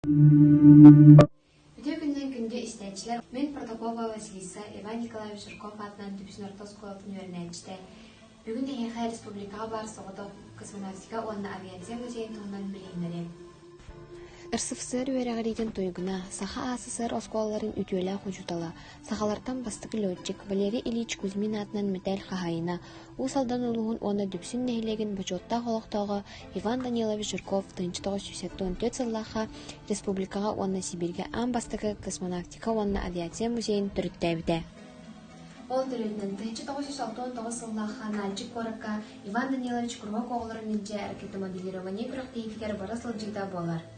Үтүө күннээн күндү истээччилэр Мин Протокопова Василиса Иван Николаевич Жирков аатынан Дүпсүн орто оскуолатын үөрэнээччитэ бүгүн эһиэхэ республикаҕа баар соҕотох космонавтика уонна авиация музейын туһунан билиһиннэриэм. РСФСР үөрэҕириитин туйгуна, Саха АССР оскуолаларын үтүөлээх учуутала, Сахалартан бастакы летчик Валерий Ильич Кузьмин аатынан мэтээл хаһаайына, Уус Алдан улууһун уонна Дүпсүн нэһилиэгин бочуоттаах олохтооҕо Иван Данилович Жирков тыһыынча тоҕус сүүс туон түөрт сыллаахха республикаҕа уонна Сибииргэ аан бастакы космонавтика уонна авиация музейын төрүттээбитэ. Ол төрүттэн тыһыынча тоҕус сүүс алтан тоҕус сыллаахха Наальчик куоракка Иван Данилович куруһуок оҕолорун илдьэ ракетомобилирование күрэхтэһиитигэр бара сылдьыыта буолар.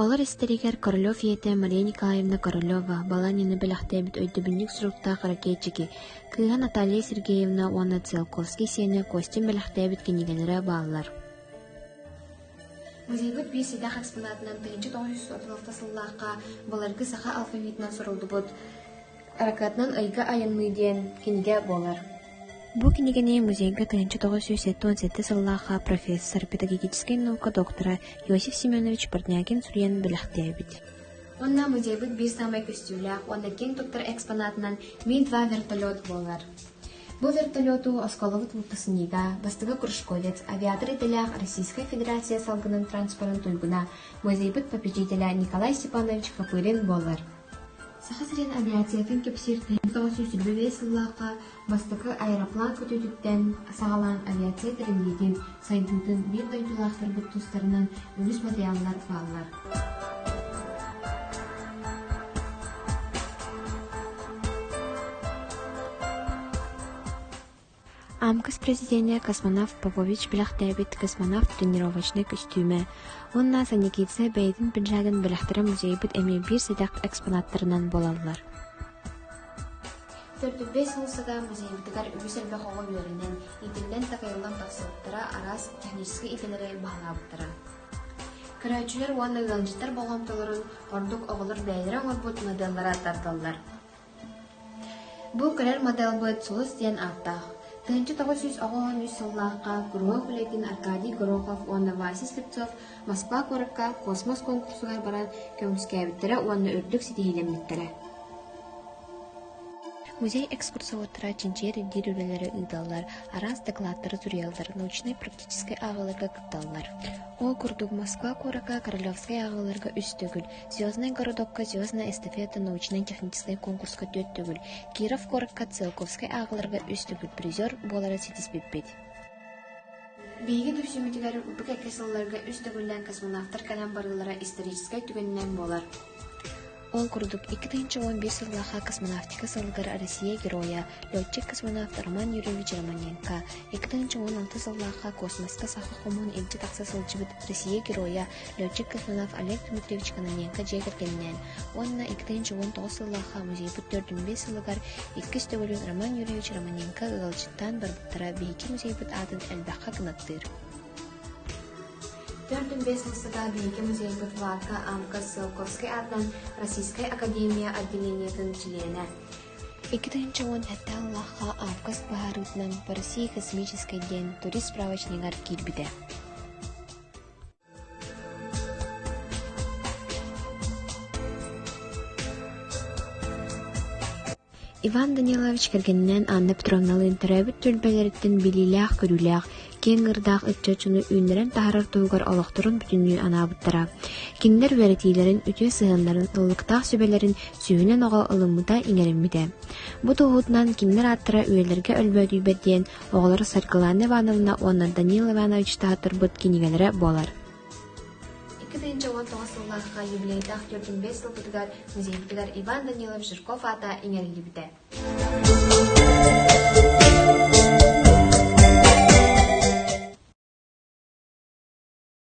Олор истэригэр Королев ийэтэ Мария Николаевна Королева, Баланины бэлэхтээбит өйдөбүнньүк суруктаах ракетчики, кыыһа Наталья Сергеевна уонна Циолковский сиэнэ Костин бэлэхтээбит кинигэлэрэ бааллар. Музейбыт биир сидээх экспонатынан тыһыынча тоҕус жүз отуз алта сыллаахха былыргы саха алфавитынан суруллубут Аракаатынан «Ыйга айанныы» диэн кинигэ буолар. Бу кинигэни музейга тыһыынча тоҕус сүүс сэттэ уон сэттэ сыллаахха профессор, педагогическай наука доктора Иосиф Семенович Парнякин суруйан бэлэхтээбит. Онно музейбыт биир саамай көстүүлээх уонна киэҥ туттар экспонатынан «Мин два вертолет» буолар. Бу вертолету осколобут Лутасынида, бастыга Кружковец, авиатор идэлээх Российскай Федерация салгынын транспорын туйгуна, музейбыт попечителэ Николай Степанович Копырин буолар. Саха сирин авиациятын кэпсиир тыһыынча тоҕус сүүс сүүрбэ биэс сыллаахха бастакы аэроплан көтүүтүттэн саҕалаан авиация тэриллиитин сайдыытын биир дойдулаахтарбыт тустарынан үгүс матырыйааллар бааллар. Амкас президиэнэ космонавт Попович бэлэхтээбит «Космонавт тренировочнай көстүүмэ» уонна Санникидзе бэйэтин пиджагын бэлэхтэрэ музейбыт эмиэ биир сэдэх экспонаттарынан буолаллар. Төрдүк бэс муусука музейбытыгар үгүс элбэх оҕо үөрэнэн, иитиллэн-такайыллан тахсыбыттара араас техническэй идэлэри баһылаабыттара. Көрөөччүлэр уонна ыалдьыттар болҕомтолорун ордук оҕолор бэйэлэрэ оҥорбут модельлара тардаллар. Бу кэлэр моделбыт Сулус диэн ааттаах. Тыһыынча тоҕус сүүс оҕоһун үс сыллаахха куруһуок үлэтин Аркадий Горохов уонна Вася Слепцов Москва куоракка космос куонкурсугар баран көмүскээбиттэрэ уонна үрдүк ситиһиилэммиттэрэ. Музей-экскурсоводтара чинчийэр-ирдиир үлэлэрэ ыыталлар, араас дакылааттары суруйаллар, научнай-практическай ааҕыыларга кытталлар. Ол курдук, Москва куоракка Королевскай ааҕыыларга үс төгүл, Звезднай городокка «Звездная эстафета» научнай-техническэй куонкуруска түөрт төгүл, Киров куоракка Циолковскай ааҕыларга үс төгүл призер буолара ситиспиппит Биһиги түмсүүмүтүгэр бу кэккэ сылларга үс төгүллээн космонавтар кэлэн барыылара историческай түгэнинэн буолар. Ол курдук, икки тыһыынча уон биир сыллаахха космонавтика сылыгар Россия геройа, летчик-космонавт Роман Юрьевич Романенко, икки тыһыынча уон алты сыллаахха космоска саха хомуһун илдьэ тахса сылдьыбыт Россия геройа летчик космонавт Олег Дмитриевич Кононенко дьиэ кэргэнинээн уонна икки тыһыынча уон тоҕус сыллаахха музейбыт төрдүн-биэс сылыгар иккис төгүлүн Роман Юрьевич Романенко ыалдьыттаан барбыттара биһиги музейбыт аатын элбэххэ кынаттыыр Төрдүн-биэс сылга биһиги музейбыт Варка Амка Сыалковскай аатынан Российскай Академия отделениетын чилиэнэ. Икки тыһыынча уон сэттэ сыллаахха Авкас быһаарыытынан по России космическай диэн турист справочнигар киирбитэ. Иван Данилович кэргэнинээн Анна Петровналыын төрөөбүт түөлбэлэриттэн билиилээх-көрүүлээх, киэҥ ырдаах ыччаччыны үүннэрэн таһарар туһугар олохторун бүтүннүү анаабыттара. Кинилэр үөрэтиилэрин, үтүө сыһыаннарын, ыллыктаах сүбэлэрин сүүһүнэн оҕо ылыммыта, иҥэриммитэ. Бу туоһутунан кинилэр ааттара үйэлэргэ өлбөөдүйбэт диэн Оҕолоро Саргылана Ивановна уонна Данил Иванович таһытырбыт кинигэлэрэ буолар. Икки тыһыынча уон тоҕус сыллаахха юбилейдаах түөртүн бэс сылбытыгар музейбитигэр Иван Данилов Жирков аата иҥэриллибитэ.